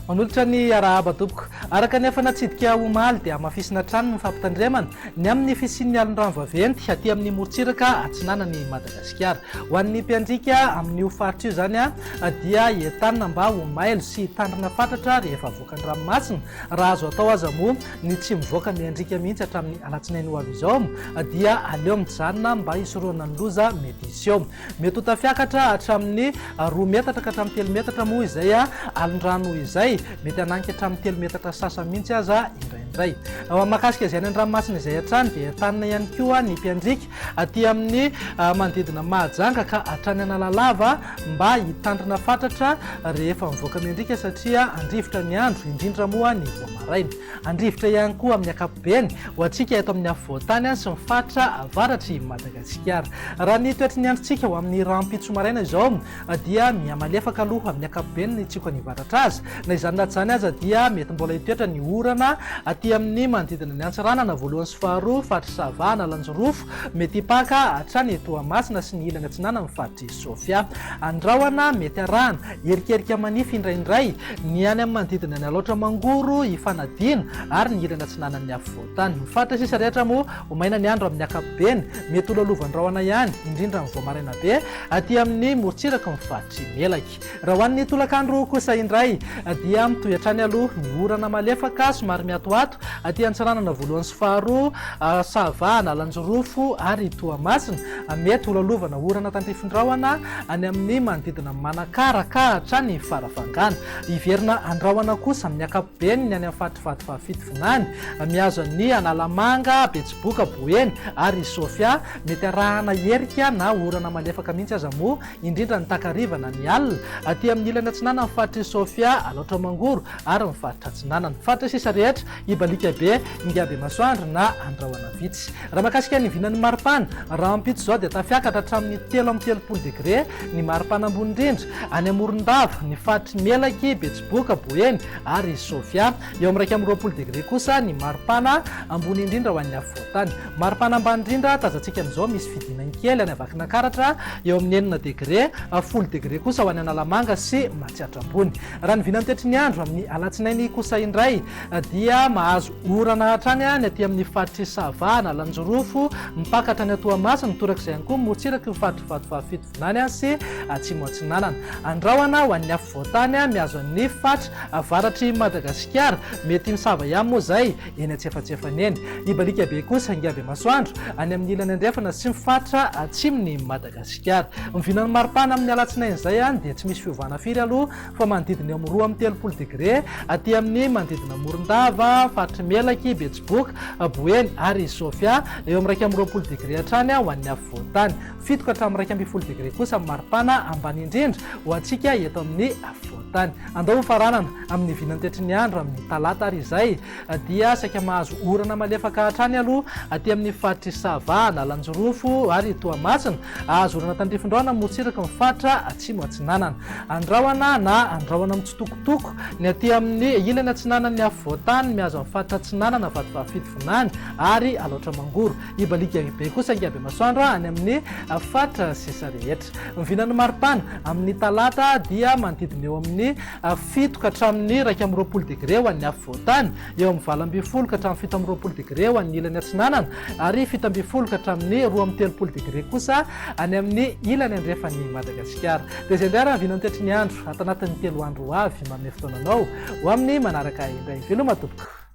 Manolotra ny arahaba tompoko. Araka ny efa natsidika omaly dia hamafisina hatrany ny fampitandremana ny amin'ny fisian'ny alondrano vaventy aty amin'ny morontsiraka atsinanan'i Madagasikara. Ho an'ny mpiandriaka amin'io faritra io izany dia entanina mba ho mailo sy hitandrina fatratra rehefa avoaka ny ranomasina raha azo atao aza moa ny tsy mivoaka miandriaka mihitsy hatramin'ny alatsinainy ho avy izao dia aleo mijanona mba hisorohana ny loza mety hisy eo. Mety ho tafiakatra hatramin'ny roa metatra ka hatramin'ny telo metatra moa izay alin-drano izay, mety hanangy hatramin'ny telo metatra sy sasany mihitsy aza indraindray. Mahakasika izay any an-dranomasina izay hatrany dia entanina ihany koa ny mpiandriaka Aty amin'ny manodidina Mahajanga ka hatrany Analalava mba hitandrina fatratra rehefa mivoaka mendrika satria handrivotra ny andro, indrindra moa ny vao maraina. Handrivotra ihany koa amin'ny ankapobeny ho antsika eto amin'ny afovoan-tany sy ny faritra avaratr'i Madagasikara. Raha ny toetry ny androntsika ho amin'ny rahampitso maraina izao, dia mihamalefaka aloha amin'ny ankapobeny ny tsioko any avaratra aza. Na izany na tsy izany aza dia mety mbola hitoetra ny orana aty amin'ny manodidina ny Antsiranana voalohany sy faharoa, faritry Sava, Analanjirofo, mety hipaka hatrany Toamasina sy ny ilany atsinanan'ny faritry Sofia. Andrahona mety harahana erikerika manify indraindray ny any amin'ny manodidina ny Alaotra Mangoro, Ifanadiana ary ny ilany atsinanan'ny afovoantany. Ny faritra sisa rehetra moa ho maina ny andro amin'ny ankapobeny, mety ho lalovan-drahona ihany indrindra amin'ny vao maraina be. Aty amin'ny morontsirak'i ny faritry Melaky. Raha ho an'ny tolakandro kosa indray dia mitohy hatrany aloha ny orana malefaka somary miatoato aty Antsiranana voalohany sy faharoa, Sava, Analanjirofo ary Toamasina. Mety ho lalovana orana tandrifin-drahona any amin'ny manodidina an'i Manakara ka hatrany Farafangana. Hiverina andrahona kosa amin'ny ankapobeny ny any amin'ny faritry Vadifahafito vinany, mihazo an'i Analamanga, Betsiboka, Boeny ary Sofia Mety arahana erika na orana malefaka mihitsy aza moa, indrindra ny takariva na ny alina, aty amin'ny ilany atsinanan'ny faritr'i Sofia, Alaotra Mangoro ary ny faritra atsinanana. Faritra sisa rehetra, Ibalika be, Ingabemasoandro na Andrahona vitsy. Raha mahakasika ny vinan'ny maripana, rahampitso izao dia tafiakatra hatramin'ny telo amby telopolo degre ny maripana ambony indrindra, any Morondava, ny faritry Melaky, Betsiboka, Boeny ary Sofia. Eo amin'ny iraika amby roapolo degre kosa ny maripana ambony indrindra ho an'ny afovoantany. Maripana ambany indrindra tazantsika amin'izao misy fidinany kely any Vakinankaratra eo amin'ny enina degre, folo degre kosa ho any Analamanga sy Matsiatrabony. Raha ny vinan'ny toetry ny andro amin'ny alatsinainy kosa indray dia mahazo orana hatrany ny aty amin'ny faritr'i Sava, Analanjirofo, mipaka hatrany à Toamasina, torak'izay ihany koa motsirak'i ny faritr'i Vatovavy-Fitovinany sy Atsimo Atsinanana. Andrahona ho an'ny afovoantany mihazo an'ny faritra avaratr'i Madagasikara. Mety misava ihany moa izay eny antsefatsefany eny. Hibaliaka be kosa ingaby masoandro any amin'ny ilany andrefana sy ny faritra atsimon'i Madagasikara. Ny vinan'ny maripana amin'ny alatsinainy izay dia tsy misy fiovana firy aloha fa manodidina eo amin'ny roa amby telopolo degre aty amin'ny manodidina Morondava, faritry Melaky, Betsiboka, Boeny ary Sofia. Eo amin'ny iraika amby roapolo degre hatrany ho an'ny afovoan-tany. Fito ka hatramin'ny iraika ambin'ny folo degre kosa ny maripana ambany indrindra ho antsika eto amin'ny afovoan-tany. Andao hofaranana amin'ny vinantetry ny andro amin'ny talata ary izay dia saika mahazo orana malefaka hatrany aloha aty amin'ny faritr'i Sava, Analanjirofo ary Toamasina. Hahazo orana tandrifindraona motsiraky ny faritra Atsimo Atsinanana. Andrahona na andrahona mitsitokotoko ny aty amin'ny ilany atsinanan'ny afovoan-tany mihazo ny faritra Atsinanana, Vatovavy-Fidy Vinany ary Alaotra Mangoro. Hibaliaka be kosa angiabe masoandro any amin'ny faritra sisa rehetra. Ny vinan'ny maripana amin'ny talata dia manodidina eo amin'ny fito ka hatramin'ny iraika amby roapolo degre ho an'ny afovoantany, eo amin'ny valo ambin'ny folo ka hatramin'ny fito amby roapolo degre ho an'ny ilany atsinanana ary fito ambin'ny folo ka hatramin'ny roa amby telopolo degre kosa any amin'ny ilany andrefan'i Madagasikara. Dia izay indray ary ny vinan'ny toetry ny andro ato anatin'ny telo andro ho avy manome fotoana anao ho amin'ny manaraka indray. Veloma tompoko.